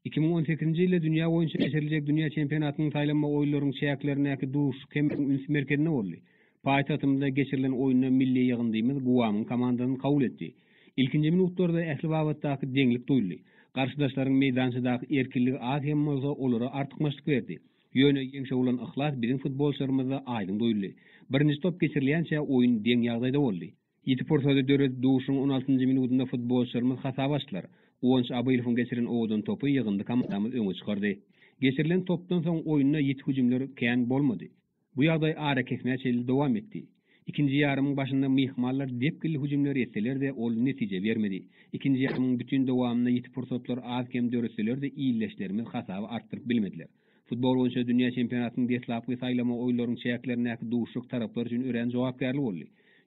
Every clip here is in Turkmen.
Iki müň on sekizinji ýylda dünýä boýunça geçiriljek dünýä çempionatynyň saýlanma oýunlaryň çäklerindäki duşuşyk hem biziň üns merkezinde boldy. Paýtagtymyzda geçirilen oýunda milli ýygyndymyz Guamyň komandasyny kabul etdi. Ilkinji minutlarda ähli babatdaky deňlik duýuldy. Garşydaşlaryň meýdançadaky erkinligi az hem bolsa olara artykmaçlyk berdi. Ýöne ýeňşe bolan yhlas biziň futbolçylarymyzda aýdyň duýuldy. Birinji top geçirilýänçä oýun deň ýagdaýda boldy. Ýiti pursady döredip, duşuň on altynjy minudynda futbolçylarymyz hasaby açdylar. Guwanç Abylowyň geçiren owadan topy ýygyndy komandamyzy öňe çykardy. Geçirilen topdan soň oýunda ýiti hüjümler kän bolmady. Bu ýagdaý arakesmä çenli dowam etdi. Ikinji ýarymyň başynda myhmanlar depginli hüjümleri etseler-de, ol netije bermedi. Ikinji ýarymyň bütin dowamynda ýiti pursatlar az-kem döretseler-de, ildeşlerimiz hasaby artdyryp bilmediler. Futbol boýunça dünýä çempionatynyň deslapky saýlama oýunlarynyň çäklerindäki duşuşyk taraplar üçin örän jogapkärli boldy.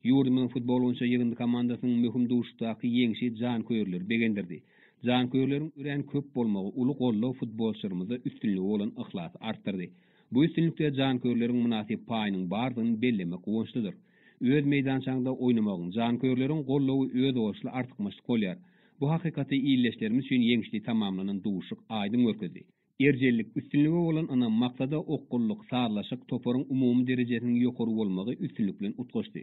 Ýurdumyzyň futbol boýunça ýygyndy komandasynyň möhüm duşuşykdaky ýeňşi janköýerleri begendirdi. Janköýerleriň örän köp bolmagy, uly goldaw futbolçylarymyzda üstünlige bolan yhlasy artdyrdy. Bu üstünlikde janköýerleriň mynasyp paýynyň bardygyny bellemek guwançlydyr. Öz meýdançaňda oýnamagyň, janköýerleriň goldawy özboluşly artykmaçlyk bolýar. Bu hakykaty ildeşlerimiz üçin ýeňişli tamamlanan duşuşyk aýdyň görkezdi. Erjellik, üstünlige bolan ynam, maksada okgunlyk, sazlaşyk, toparyň umumy derejesiniň ýokary bolmagy üstünlik bilen utgaşdy.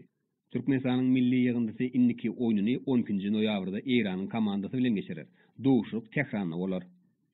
Türkmenistanyň milli ýygyndysy indiki oýnuny on ikinji noýabrda Eýranyň komandasy bilen geçirer. Duşuşyk Tähranda bolar.